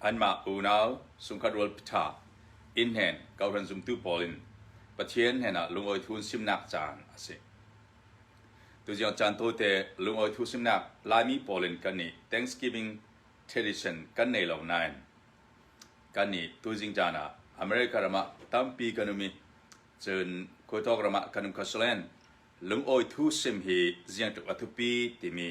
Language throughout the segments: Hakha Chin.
Anmah unau chungkhat rual ṭha innhnen kohhran zumtu pawl in Pathian hnenah lungawi thuun simnak caan a si. Tuzing caan tawite lungawi thu simnak Laimi pawl in kan nih Thanksgiving tradition kan nei lo nain kan nih tuzing caan ah America ram ah tampi kan um i cun khuaitawk ram ah kan um kho salen lungawi thu sim hi ziang tluk a thupi timi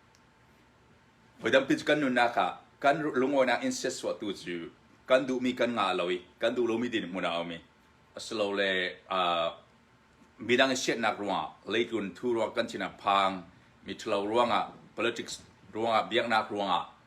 Voi tampi cu kan nunnak ah kan lungawinak in siatsuahtu cu kan duhmi kan ngah lo i kan duh lomi ding hmun ah a um i asilole uh, midang i siatnak ruangah leitlun thu ruang kan thinang phang mi ṭhalo ruangah politics ruangah biaknak ruangah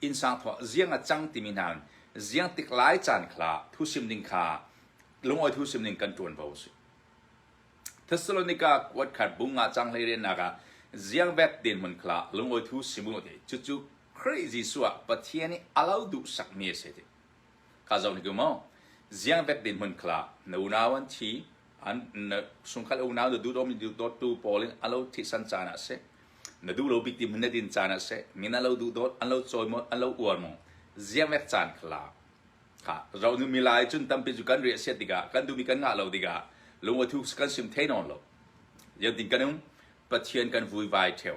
innsang thawh ziang a cang timi hna ziang tik lai caan khla thusim ding kha lungawi thusim ding kan tuan vo a si Thessalonica kuat khat bung nga cang hlei riannak ah ziang vek den mun khla lungawi thu simu te cucu Khrih Jesuh ah Pathian nih a lo duh sakmi a si ti ka zo ni ku mo ziang vek den mun khla na unau an thi an sungkal unau na duh dawmi duh dawtu pawl in alo thihsan caan ah si na duh lo bik ti hmun na din caan ah si min alo duh dawt an lo cawi mo an lo uar mo ziamek caan khla ha ro nu milai cun tampi cu kan re sia tikah kan duhmi kan ngah lo tikah lungwa thu kan sim thei non lo yan tin kan um pathian kan vui vai theo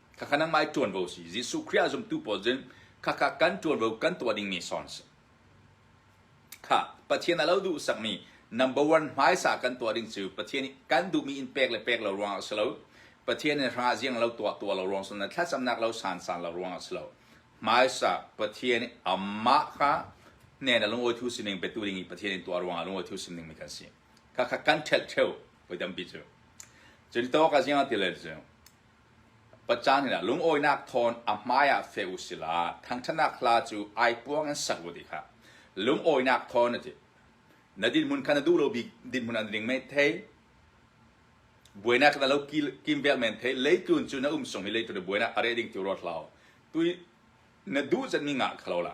Khakha nangmah i ṭuanvo si. Jesuh Khrih ah zumtu pawl cu khakha kan ṭuanvo kan tuah dingmi sawn si. Kha Pathian a lo duhsakmi number one hmaisa kan tuah ding cu Pathian nih kan duhmi in pek le pek lo ruangah a si lo. Pathian nih hrangah ziang lo tuah tuah lo ruang sungin thlacamnak lo sansan lo ruangah a si lo. Hmaisa Pathian nih amah kha hnen a lungawi thu sining petu ding i Pathian in tuah ruangah lungawi thu sining mi kan si. Khakha kan ṭhelh ṭheu voi tampi cu. Cun tawka ziang a ti le cu Pacang in a lungawinak thawn a hmaiah feh u silaw thangṭhatnak hla cu ai puang in sak u ti kha lungawinak thawn a ti. Na dinhmun kha na duh lo bik dinhmun ah na ding men thei. Buainak na lo kim vel men thei. Leitlun cu na um sung i leitlun na buainak a reh ding tu ruat hlah. Tu na duh cenmi ngah kha lo la.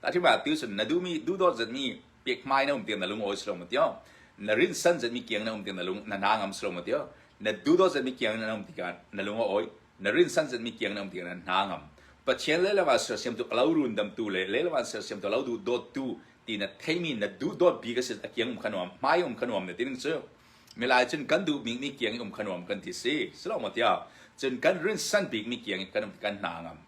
ta thi ba tiu sim na du mi du dot zat ni pek mai na um tiang na lungawi slo ma tio na rin san zat mi kiang na um tiang na lung na na ngam slo ma tio na du dot zat mi kiang na um tiang na lungawi na rin san zat mi kiang na um tiang na na ngam pathian le lama ser siam tu lau run dam tu le le lama ser siam tu lau du dot tu ti na theimi na du dot bi ka sil akiang um khanuam mai um khanuam ne tin chu milai chun kan du mi mi kiang um khanuam kan ti si slo ma tia chun kan rin san bik mi kiang kan kan na ngam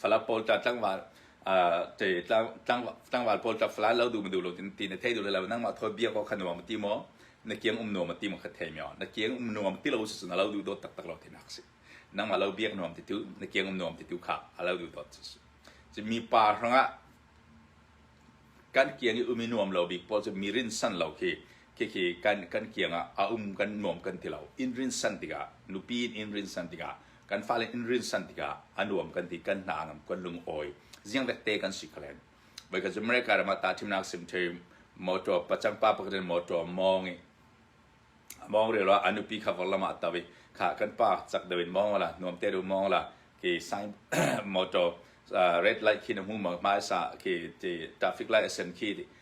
Fala pawl ta tlangval uh, te tlang, tlang, tlangval pawl ta fala lo du ma du lo tin ti na thei du le lo nangmah thoi bia ko kha nuam ti mo na kiang um nuam ti mo kha thei myo na kiang um nuam ti lo su na lo du do tak tak lo tin hak si nangmah lo biak nuam ti tu na kiang um nuam ti tu kha a lo du dot si ci mi pa hranga kan kiang i umi nuam lo bik pawl ci mi rin san lo khi khi khi kan kan kianga a um kan nuam kan ti lo in rin san tiga nupi in in rin san tiga kan fale in rinsan tikah a nuam kan ti kan hna ngam kan lungawi ziang dette kan si kalen bai ka America rama ta thimnak sim the motor pachang pa pakdin motor mongi mong re la anu pi khavar lama tawi kha kan pa chak dawin mong la nuam te ru mong la ke sign motor red light khi na mu ma ma sa ke te traffic light asen khi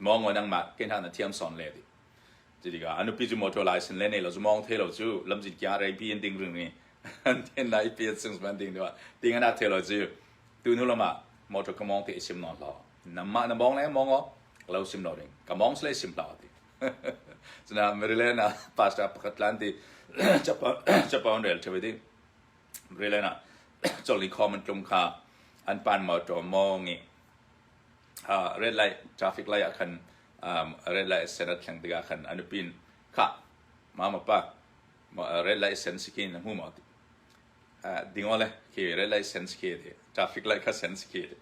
mongo nangmah kenak na thiam son le di tiga anu pi ju motor license le ne lo mong the lo chu lam jin kya rai pi in ding ring ni an ten lai pi sing ban ding do ding ana the lo chu tu nu lama motor ka mong te sim non lo na ma na mong le mongo lo sim lo ring ka mong sle sim la ti chna maryland na pasta pakhat lan di japan japan rail the di maryland na choli common tlung kha an pan motor mongi red light traffic lai ah khan um, red light sen a thleng tikah khan a nupi in khah mama pa ma- red light sen si khi na hmu maw ti uh, ding ole khi red light sen si khi ti traffic light kha sen si khi ti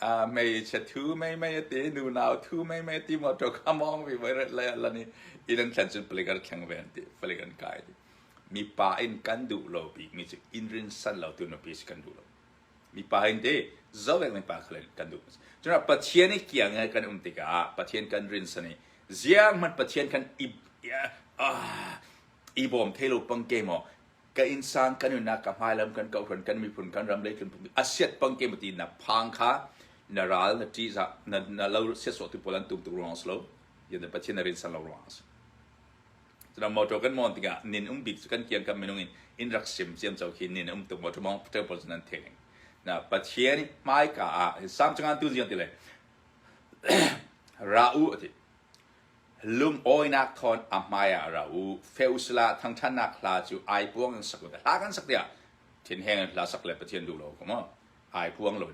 uh, mei che thu mei mei te nu nau thu mei mei ti motor kamong vi voi red light la ni ilan thlan cun palik an thleng ven ti palik an kai ti mi pa in kan duh lo bik mi cu in rin san lo tu nupi si kan duh lo mipa in te zoh le mipa kha kan duh cun Pathian i kiang i kan um tikah Pathian kan rinsan i ziaahmanh Pathian kan i i bawm thei lo pang ke maw ka innsang kan nunnak ka hmailam kan kohran kan miphun kan ram le kan pumpi asiat pang ke maw ti na phang kha na ral na ṭihza na, na lo siasawhtu pawl an tum tuk ruang si lo yan Pathian na rinsan lo ruang si Cudan motor kan mon tikah nin um bik cu kan kiang kan minung in in rak sim ciam co khi nin um tuk motor mong tel pawl cu nan thei ning. Na Pathian hmaika ah sam changan tu ziang ti le ra u ati lung oinak thon a hmaya ra u feusla thangthannak hla cu ai puang in sak la kan sak tia thin heng hla sak le pathian du lo ko mo ai puang lon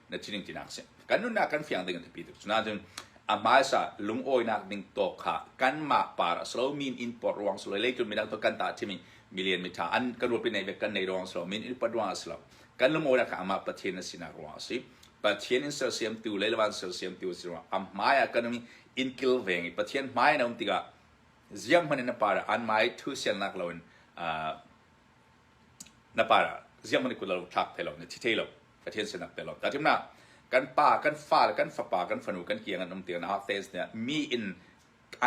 na thining tinak a si kan nunnak kan fiang ding a biapi tuk cunain a hmaisa lungawinak ding tawk kha kanmah par a si lo min in port ruang si lo lei tu midang tu kan ta thimi million mitha an kan rupi nei ve kan nei ruang si lo min in port ruang a si lo kan lungawinak kha amah pathian a sinak ruang a si pathian in sersiam tu le lawan sersiam tu a si ruang a hmai ah kan in kilveng i pathian hmai na um tikah ziang hman in a par an mai thu siangnak lo in na pa ziah manih kut lo tlak thai lo na thi thei lo Pathian sinak te lo ta tim na kan pa kan fa le kan fapa kan fanu kan kiang an um tiang na hak tes nih mi in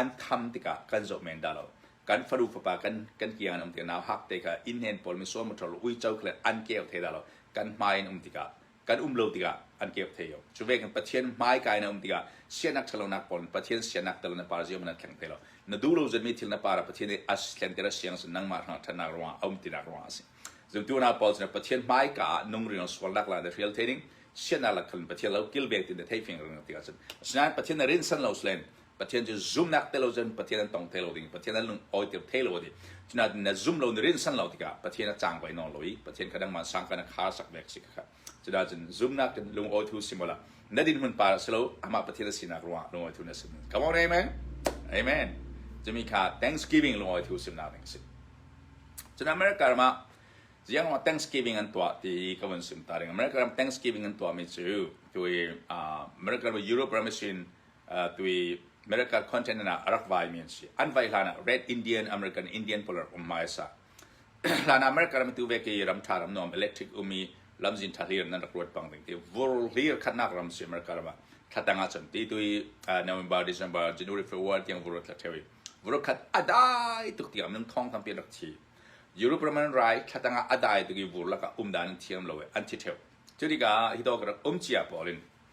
an tham tikah kan zo men da lo kan fanu fapa kan kan kiang an um tiang na hak te ka in hen pol mi so motor ui chau kle an ke te da lo kan hmai in um tikah kan um lo tikah an keup thai yo cu ve kan pathian hmai kai na um tikah sianak ṭhalonak pawl pathian sianak tel na par ziam na kheng te lo na duh lo zan mi thil na para pathian i as thlen tera siang sin nangmah hrang ṭhannak ruang a um tinak ruang a si zumtu na paul na pathian hmai ka ah nung riang sualnak la the real training sianak la khalin pathian lo kilvek tin the thei fing rang tikah cun sinain pathian na rin san lo slen Pathian cu zumhnak te lo cun Pathian an tong te lo ding Pathian an lung awiter the lo ding cunain na zum lo na rinsan lo tikah Pathian a cang vai nawn lo i Pathian kha nangmah sang kan kha sak vek si kha cuda cun zumhnak in lung awithu si mola na din hun par si lo amah Pathian a sinak ruangah lung awithu na sim come on amen amen cumi kha thanksgiving lung awithu simnak ding si cun America ramah ziang wa thanksgiving an tuah ti ka von sim ta ding America ram thanksgiving an tuah mi cu tu America ram Europe ram sin tui America continent ah rak vaimi an si an vai hlan ah Red Indian American Indian polar um ma sa hlan ah America ram tu ve ke ram tha ram nom electric umi lam zin tha hlir nan rak ruat bang ding ti vur hlir khatnak ram si America ram thatang a chan ti tui November December January February tiang vur tha thewi vur khat adai tuk tiang nam thong tham pi rak thi Europe Roman rai thatanga adai tu ki vur laka um dan thiam lo an thi theu churika hitokrak um chia polin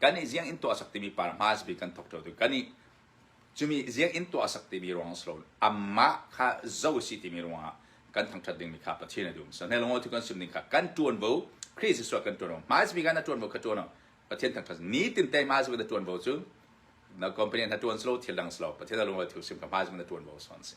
Kan nih zianginn tuah sak timi par hmaas bik kan thok ṭheo tu. Kan nih cumi zianginn tuah sak timi ruangah si lo, amah kha zoh a si timi ruangah kan thangṭhat dingmi kha Pathian a duh hmasa. Nai lungaw thukan sum ning kha kan ṭuanvo Khrih Jesuh ah kan ṭuanvo. Hmaas bik ah na ṭuanvo kha ṭuan u. Pathian thangṭhat. Nitin tei hmaas bik na ṭuanvo cu na company na ṭuan si lo, thil dang si lo. Pathian a lungaw thu sim kha hmaas bik na ṭuanvo sawn a si.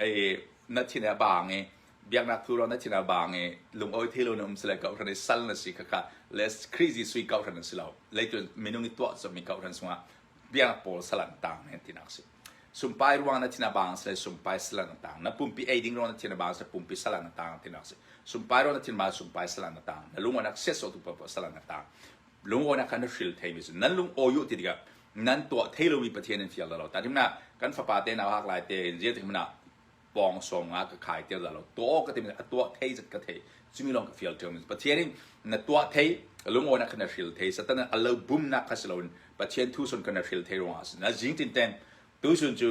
i na thin a bang i biaknak tu ro na thin a bang i lungawi thilo na um sile kohhran i sal na si khakha le crazy sui kohhran si lo leitu minung i tuah cawmi kohhran sungah biaknak pawl salan tang he tinak si sumpai ruang na thin a bang sile sumpai salan na tang na pumpi ei ding ro na thin a bang sile pumpi salan na tang tinak si sumpai ro na thin bang sumpai salan na tang na lunganak siasotu pa salan na tang lungawinak kha na hril theimi su nan lungawi ti tikah nan tuah thei lomi Pathian nan fial lo ta hrim na kan fapa te nau hak lai te in zia hrim na pawng sawm nga ka khai ter da lo tuah ka tim a tuah thei zat ka thei chumi long ka fial ṭeu Pathian in na tuah thei lungo na kana hril thei satan a lo bum na khaslo Pathian thu son kana hril thei ronga na jing tin ten tu sun chu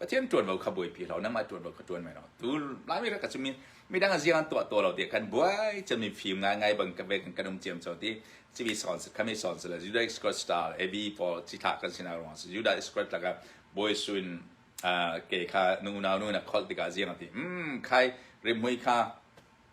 Pathian ṭuanvo kha buaipi law nangmah ṭuanvo ka ṭuan men law tu Laimi rak ka cu midang ziang an tuah tuah lo ti kan buai cami fim ngaingai bang ka ve kan kan um ciam cho ti civi sawn si khami sawn si le Judah Iskariot star AB pawl cithlah kan sinak ruang si Judah Iskariot laka bawi suin ke kha nu unau nu na kholh tikah ziang ati mm khai rimhmui kha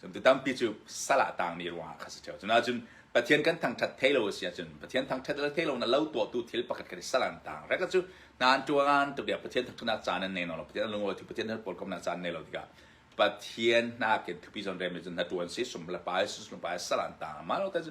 Cun tu tampi cu sal ah tangmi ruangah kha a si ṭheo. Cunain Pathian kan thangṭhat thei lo a si ahcun Pathian thangṭhat le thei lonak lo tuahtu thil pakhat khat i sal an tang. Reka cu hnan ṭuan tu bia Pathian thangṭhatnak caan nan nei lo, Pathian a lungawi tu Pathian nan pawlkomnak caan nei lo tikah Pathian hnakin thupi zawn rem cun hna ṭuan si sum le pa Jesus lung pa sal an tang. Mah lo ta cu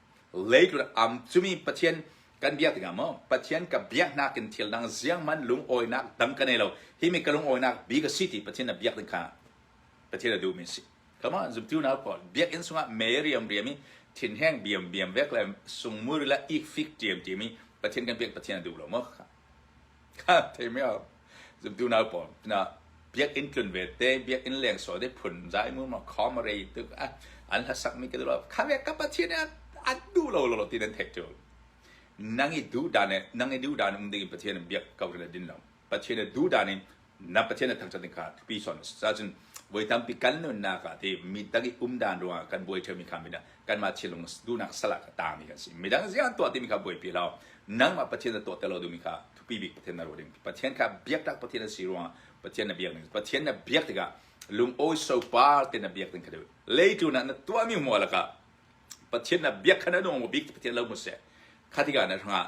Leitlun am cumi Pathian kan biak tikah maw Pathian ka biak hnak in thil dang zianghman lungawinak dang ka nei lo hi mi ka lungawinak bi ka si ti Pathian a biak ding kha Pathian a duhmi si come on zumtu nau pawl biakinn sungah me riam riam i thinheng biam biam vek le sungmur le ikfik tiam tiam i Pathian kan biak Pathian a duh lo maw thei me au zumtu nau pawl pinah biakinn tlun ve te biakinn leng sual te phun zai mu ma khom re tuk an hla sak mi ka lo kha ve ka pathin an du lo lo ti nan thek tu nang i du dan nang i du dan um ding pathian biak ko rin din lo pathian du dan in na Pathian a thangṭhat ding kha thupi sawn a si cahcun voi tampi kan nunnak ah ti mi tak i um dan ruangah kan buai ṭheumi kha midang kanmah thinlung duhnak sal ah taami kan si midang ziah tuah timi kha buaipi law nangmah Pathian a tuah te lo duhmi kha thupi bik Pathian na ruah ding Pathian kha biaktak Pathian a si ruangah Pathian na biak ding Pathian na biak tikah lungawi sopar te na biak ding kha lei tu na tuahmi hmual lakah Pathian na biak kha na nung bik Pathian lo mu seh kha tikah na hrangah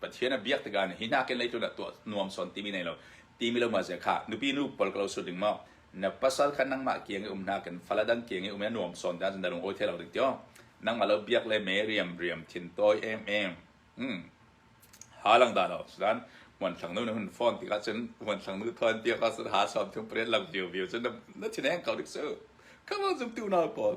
Pathian a biak tikah hi hna kenlei tlun ah tuah nuamsawn timi nei lo timi lo ma zia kha nupi nu pol ka lo sut ding maw na pasal kha nangmah ke nge um hna kan fala dan ke nge um nuam sawn dan da lung oi the lo ding tyo nangma lo biak le me riam riam thin toy em em hmm halang da lo sudan wan thlang nu na hun phone ti ka chun wan thlang nu thon tia ka sun ha som thung pret lam view view chun na thin eng kau dik su come on zum tu na pol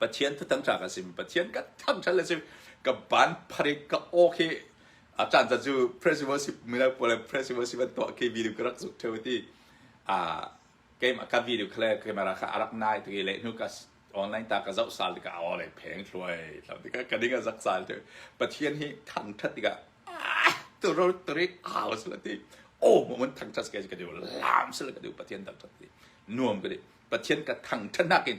Pathian thutang ṭha kan si Pathian kan thangṭhat le si ka ban pharik ka aw khi a caan caan cu principalship mino pawl le principalship an tuah khi video ka rak zuk ṭheu ti a keimah ka video kha le camera kha a rak nai ti le hnu ka online ta ka zoh sal ti ka aw le pheng thluai lam ti ka ding a zak sal ti Pathian hi thangṭhat ti ka turu turi au sala ti oh moment thangṭhat ke ka deu lam sala ka deu Pathian thangṭhat ti nuam ka di Pathian ka thangṭhatnak in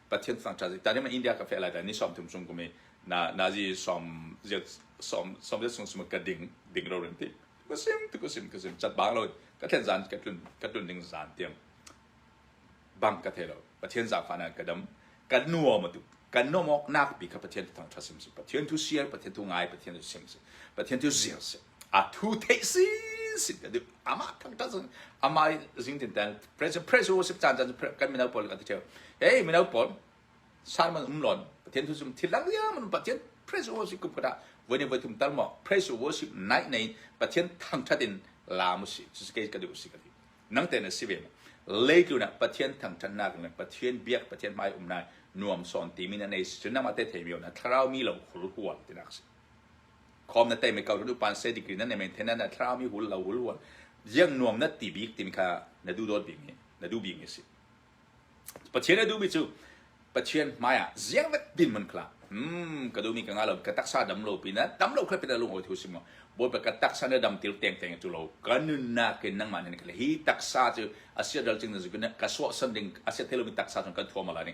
Pathian fang tha ta ma India ka fe lai da ni som thum sung kumi na nazi som je som som je sung sum ka ding ding ro rin ti ka sim ti ka sim ka sim chat bang lo ka thlen zan ka tun ka tun ding zan tiang bang ka thelo Pathian za fa na ka dam ka nuo ma tu kan no mok nak bi ka Pathian thang tha sim sim Pathian tu sier Pathian tu ngai Pathian tu sim sim Pathian tu ziar sim a thu theih si si ka duh amah thang ta sun amah zing tin tan press press worship chan chan kan mino paul kan theu hey mino paul salman umlon pathian thu sum thilang ya man pathian press worship kum kata vani vatum tal mo press worship nai nei pathian thang thatin lamu si si ke ka duh si ka duh nang ten si ve leitluna pathian thang than nak le pathian biak pathian mai umnai nuam son ti min nei sunna ma te thei mio na tharau mi lo khul hual tinak si khom na tei me kau lu pan se degree nan ne maintain na thlarau mi hul lo hul hul yang nuam na ti bik timi kha na du dot bik mi na du bik mi si pathian na du mi chu pathian maya ziang vat din mun kla mm ka du mi ka nga lo ka taksa dam lo pi na dam lo kha pita lung ho thiu sim mo bo pa ka taksa na dam til teng teng chu lo kan nun na ke nang ma ne ka hi taksa chu asia dal ching na ka so san ding asia thelo mi taksa chung kan thuam ala ni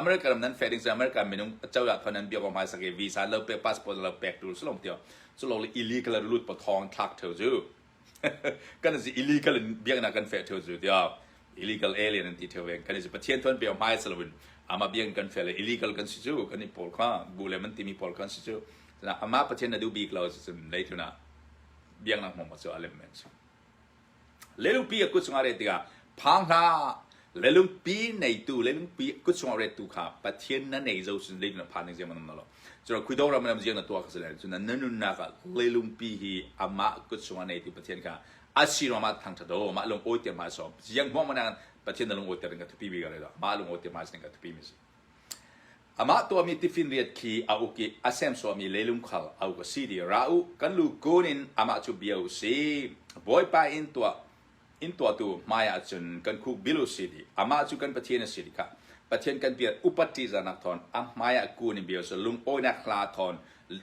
America ram nan feh ding cu America minung acoya thon nan bia hmai sake visa lo pek passport lo pek tu sulong tio sulong le illegal lut pa thong thak theu ju kan zi illegal in biak na kan feh theu ju tio illegal alien an ti theu ven kan zi pathian thon bia hmai salawin ama biak kan feh le illegal kan si ju kan i pol kha bu le man timi pol kan si ju ama pathian na du bik lo cun lei thuna biak na mong ma chu alem men Lelungpi a kut chungah ret tikah phang hlah! Lelungpi neitu, lelungpi kut chungah rettu kha Pathian na nei zo cun zeicun na phan ding zeihmanh a um lo. Cun Khuidong ram lam ziang na tuah ka si lai. Cun na nunnak ah lelungpi hi amah kut chungah neitu Pathian kha a si ruangah thangṭhat u. Mah lung awi te hmai sawm. Ziang hmuang mana Pathian na lung awi ter in ka thupi mi ka rel. Mah lung awi te hmai sin in ka thupi mi a si. Amah tuahmi tifinriat khi a uk i a semsuahmi lelum khal a uk a si ti ra u. Kan lu kun in amah cu bia u sih. Bawipa inn tuah inn tuahtu hmaiah cun kan khuk bil u si ti amah cu kan Pathian a si ti kha Pathian kan pial upat ṭihzahnak thawn a hmaiah kun in bia u sih. Lungawinak hla thawn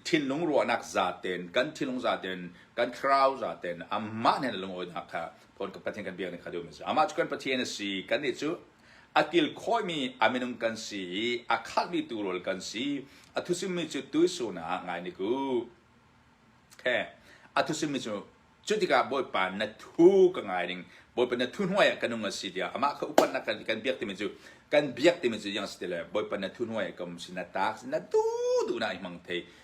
thinlung ruahnak zaten kan thinlung zaten kan thlarau zaten amah hnenah lungawinak kha phone kan Pathian kan biakning kha duh mi a si. Amah cu kan Pathian a si. Kannih cu a kil khawhmi a minung kan si i a khalhmi tu rawl kan si a thusimmi cu tuisunaah ngai nik u okay. a thusimmi cu cu tikah bawipa na thu ka ngai ning bawipa na thu hnuai ah ka nung a si tiah amah kha upatnak kan, kan biak timi cu kan biak timi cu yang si ti le bawipa na thu hnuai ah ka um si na taak si na du du na i hmang thei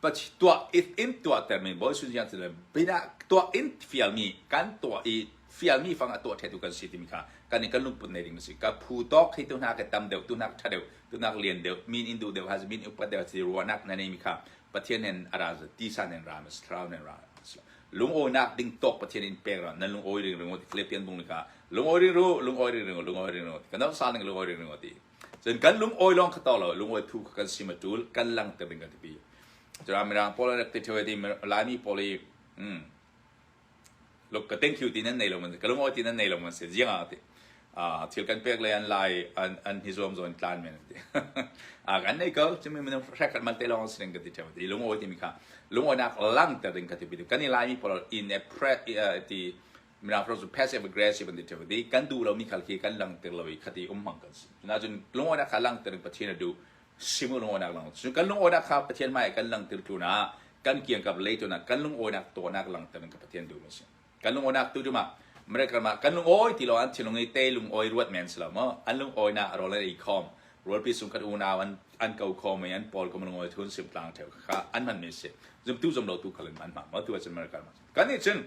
પછી tuah in tuahtermi Bawi Jesuh Christ le bidah tuah in fialmi kan tuah i fialmi fang a tuah ṭhetu kan si timi kha kan in kan lungput nei ding a si. Ka phu tawk hi tu hna ka tam deuh, tu hna ka ṭha deuh, tu hna ka lian deuh, min in duh deuh hazi, min in upat deuh hazi, ruahnak na nei mi kha Pathian hen a ra ti san hen ra ma si, thlarau hen ra ma si. Lungawinak ding tawk Pathian in pek ra, nan lungawi ring ringo ti Philippian bung li ka lungawi ring ru, lungawi ring ringo, lungawi ring ringo ti. Kan rak sal ning lungawi ring ringo ti. Cun kan lungawi lawng kha to lo lungawi phu kha kan sim a ṭul kan lang te ding kan ti pi. Cun Mirang pawl an rak ti ṭheo ti Laimi pawl i mm, luk ka thank you ti nan nei lo man ka lungawi ti nan nei lo man se jiang a ti a thil kan pek le an lai an an hi zuam zuan tlan men ti a kan nei ko chumi men hrak man te long sing ka ti ṭheo ti lungawi ti mi kha lungawi nak lang te ding ka ti pi kan i Laimi pawl in a pre ti mirang hro cu passive aggressive an ti ṭheu ti kan duh lomi khal khi kan langhter lo i khati um hmang kan si cunahcun lungawinak kha langhter in pathian a duh simul lungawinak lang cu kan lungawinak kha pathian hmai kan langhter tlunah kan kiangkap lei tunak kan lungawinak tuahnak langhter in ka pathian duh mi si kan lungawinak tu cumah miracle ma kan lungawi ti lo an thinlung i te lungawi ruat men si lo mo an lungawi na rol an i khom rualpi sung kan unau an an kau khom i an paul kom lungawi thun sim tlang ṭheu kha an man mi si zum tu zum lo tu khalin an ma mo tu acun miracle ma Kannih cun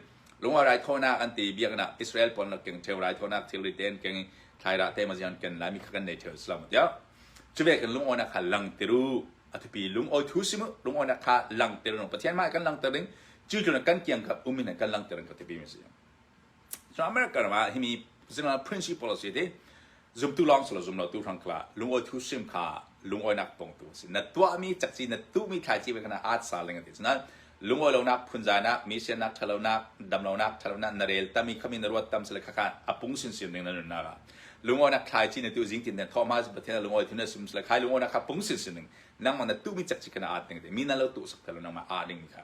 lunga raithawinak an ti biaknak Israel pawl nak keng theo raithawinak theory tein keng i thlaira te mazian ken laimi kha kan nei theo islam tiang chuve kan lungawi nak kha lang tiru athapi lungawi thu simu lungawi nak kha lang tiru pathian ma kan lang tiring cu cu kan kiang kha umin kan lang tirin ka tipi mi si Cu America ram ah himi zinglal prince policy ti zumtu lawng silo zumlotu hrang kha lungawi thu sim kha lungawinak pongtu si na tuahmi cakci na tuhmi thlaici ve kana aat sa leng ati cuna lungawi lonak phunzainak misianak ṭhalonak damlonak ṭhalonak na rel tami khami na ruat tam sile khakhan apung sinsin ring na nunnak ah lungawinak thlaici na tu zingtin na thawhma pathian lungawi thu na sim sile khai lungawinak kha pung sinsin ning nangmah na tuhmi cakci kana aat ning ti mi na lo tuh sak thalo nangmah aat ning kha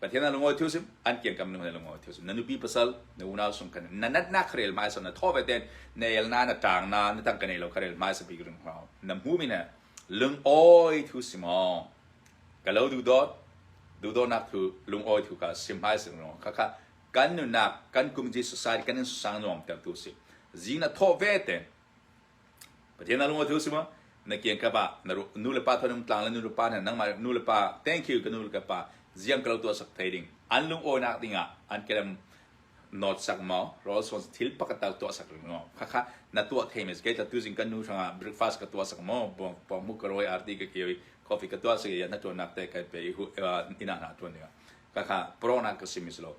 Pathian na lungawi thil sim an kian kam na lungawi thil sim na nupi pasal na unau sung kan na nat na kharel mai so na tho ve ten na el na na tang na na tang kan ei lo kharel mai se big ring hao na mu mi na lung oi thu sim o ka lo du dot du do nak thu lung oi thu ka sim mai sim ro kha kha kan nu nak kan community society kan in sang nom tel tu si zing na tho ve ten Pathian na lungawthil sima na kian ka pa na nu le pa thonung tlang le nu le pa nih nangmah nu le pa thank you ka nu le ka pa ziang kalo tuah sak thai ding an lungawinak dingah an kelem not sak maw rol son thil pakat tak tuah sak ring maw khakha na tuah thei mes ke ta tu jing kan nu hranga breakfast ka tuah sak maw bong bong mu ka roi arti ka kioi coffee ka tuah sak ya na tuan nak te kai pe hu ina na tuan ding khakha prona ka simis lo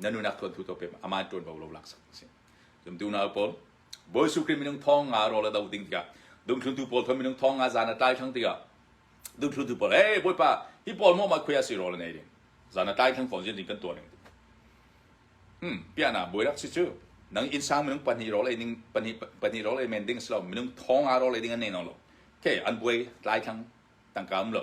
na nunak tuan tu to pe aman tuan bau lo lak sak si dum du na pol bol su krim minung thong nga ro la do ding tiga dum thlun tu pol thon minung thong nga zana tai thang tiga dum thlun tu pol hey boy pa hi pol mo ma khuya si ro la nei ding zana tai thang phon jin ding kan tuan ning hmm pia na boy rak si chu nang insang minung pani ro le ning pani pani ro le men ding slo minung thong nga ro le ding an nei no lo ke an boy tai thang tangkam lo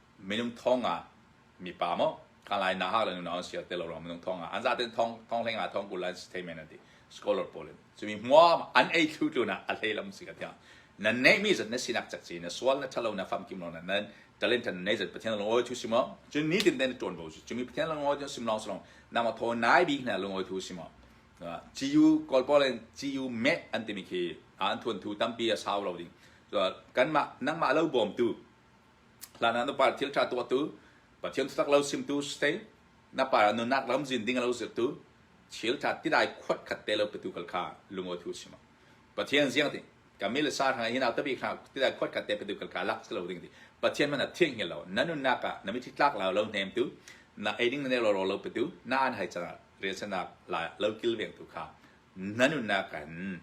minung thawngah mipa maw kan lai na hak le nu an sial te lo rang minung thawngah an za ten thong thong hleng ah thong kul lai statement ati scholar pawl in cumi mua an ei thlu tlu na a hlei lam si ka tiang na nei mi zat na sinak chak si na sual na thalo na fam kim lo na nan talent tan nei zat pathian longoi thu simo cun ni tin den tuan bo chu cumi pathian longoi thu sim long long na ma tho nai bi na longoi thu simo GU kolpol in GU met antimi khi an thuan thu tampi a sau lo ding kan ma nang ma lo bom tu Hlan ah nupa thil ṭha tuahtu, Pathian thutak lo simtu Ste. Na pa nunnak lam zin ding lo zirtu, thil ṭha ti lai khuat khat te lo petu kal kha lungawi thu a si ma? Pathian ziang ti, ka mi le sa hna hi nau te bik hna ti lai khuat khat te petu kal kha lak si lo ding ti. Pathian man a thianghel lo, na nunnak ah na mitthi tlak lo lo hnemtu, na eiding na nelo lo petu, na an hai cangah riansanak la lo kilveng tu kha na nunnak in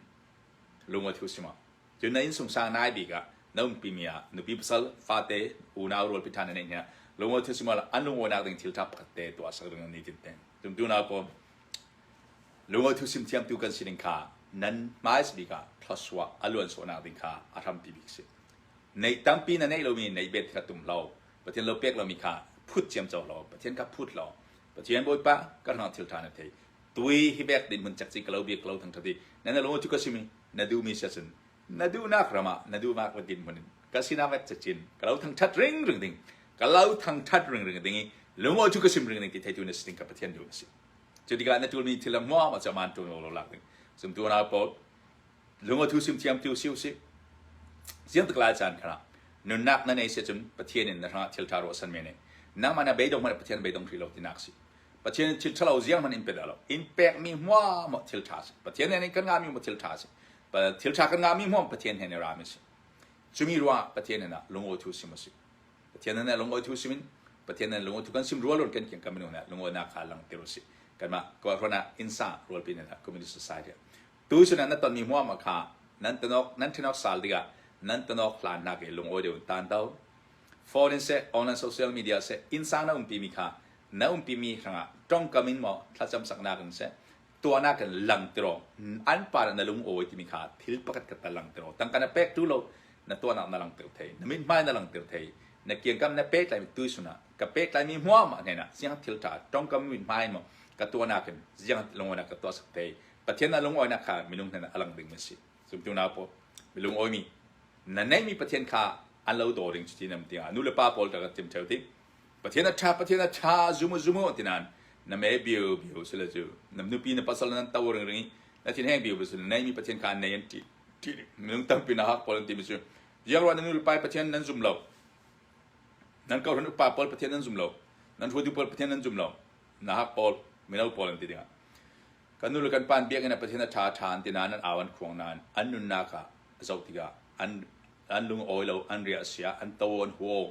lungawi thu si ma? Cun na innsungsang nai bik ah na umpimi ah nupi pasal fate unau rualpi ṭha na neih hna lungaw thil sumal an lungawinak ding thil ṭha pakhat te tuah sak ding ni tin ten tum tu na ko lungaw thil sim thiamtu kan sining kha nan hmais bik ah thlasua a luan sawhnak ding kha a hrampi bik si neih tampi na neih lomi neih bet kha tum lo pathian lo pek lomi kha phut ciam co lo pathian kha phut lo pathian bawipa kan hlang thil ṭha na thei tui hi bek ding mun cek ka lo bia ka lo thang thati na na lo chu ka simi na du mi sia sin na du nak rama na du mak din mun ka sina vet chin ka lo thang that ring ring ding ka lo thang that ring ring ding i lumo chu ka sim ring ding ki thaitu na siting ka pathian du na si chu tika na tul mi thilam mo ma chaman tu lo lak ding sum tu na po lungo thu sim thiam tu siu si siang takla chan khana nunnak na nei se chum pathian in na rha thil tharo san me ne nang mana beidong mana pathian beidong thri lo tinak si Pathian thil ṭhalo ziang hmanh in pe dah lo. In pekmi hmuahmuah thil ṭha a si. Pathian he kan ngahmi hmuah thil ṭha a si. Thil ṭha kan ngahmi hmuah Pathian he rami a si. Cumi ruangah Pathian nih lungawi thu sim a si. Pathian nih lungawi thu sim in Pathian nih lungawi thu kan sim rual rual kan kian kan minung nih lungawinak kha langhter u sih. Kanmah kuakhrawn ah insa rualpi nih communist society tu sin ah na tonmi hmuahmuah kha nan tanok nan thenok sal dingah nan tanok hlan nak i lungawi deuh in tan to. Phone in seh online social media seh insa na um timi kha na umpimi hrangah ṭongkam in maw thlacam saknak in seh tuahnak in lang tiraw an pa nih na lung awi timi kha thil pakhat khat lang tiraw tangka na pek tu lo na tuahnak na lang tir thei na mit hmai na lang tir thei na kiangkam na pek laimi tu suna ka pek laimi hmuam ah hnaina siang thil ṭha ṭongkam mit hmai maw ka tuahnak in ziang lungoinak ka tuah sak thei pathian na lungoinak kha minung hnen a lang ding mi si sumtu na po lungoi mi na neimi pathian kha an lo do ring cuti nam tiang nu le pa paul ta ka tim theo ti Pathian a ṭha, Pathian a ṭha, zum u, zum u, ti nain na me biubio sile cu na nupi na pasal nan to ringring i na thinheng biubio sile neimi Pathian kha an nei an ti. Ti minung tampi na hak pawl an timi cu ziangruah nan nulepa Pathian nan zum lo. Nan kohhran upa pawl Pathian nan zum lo. Nan hruaitu pawl Pathian nan zum lo. Na hak pawl mino pawl an ti dingah. Kan nu le kan pa biakinn ah Pathian a ṭha a ṭha an ti nain an au an khuang nain an nunnak ah a zoh tikah an an lungawi lo, an ria a sia, an to, an huaw.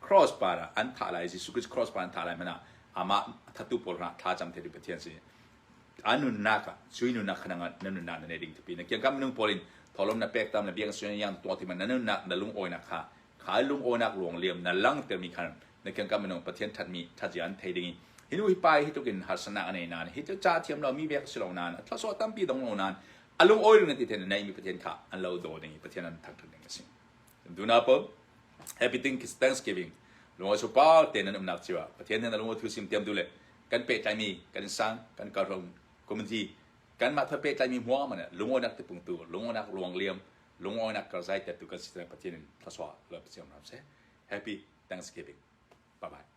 Cross par ah an thah lai, Jesuh Khrist cross par an thah lai hmanh ah amah thattu pawl rah thlacam thei ding Pathian si. An nunnak ah cui nunnak kha nang na nunnak na nei ding tipi na kiangkam minung pawl in thawlawm na pek tam na biang suan yang tuah ti ma na nunnak na lungawinak kha kha lungawinak luang liam na lang ter mi khan na kiangkam minung Pathian that mi that yan thei ding hinu hi pai hi tukin harsanak ane nan hi chu cha thiam lo mi vek si lo nan thla so tampi dong lo nan alung oil ngati then nei mi Pathian kha an lo do ding Pathian an thang ding asi Kan unau pawl happy thing is Thanksgiving lungawt cu pa te nan umnak cio ah Pathian nih a lungawt thu sim tiamtu le kan pehtlaimi kan sang kan karhram community kanmah thawh pehtlaimi hmuahman ah lungawinak ti pungtu lungawinak ruang liam lungawinak karzai tertu kan si tiang Pathian in thluachuah lo siam hram seh happy Thanksgiving bye bye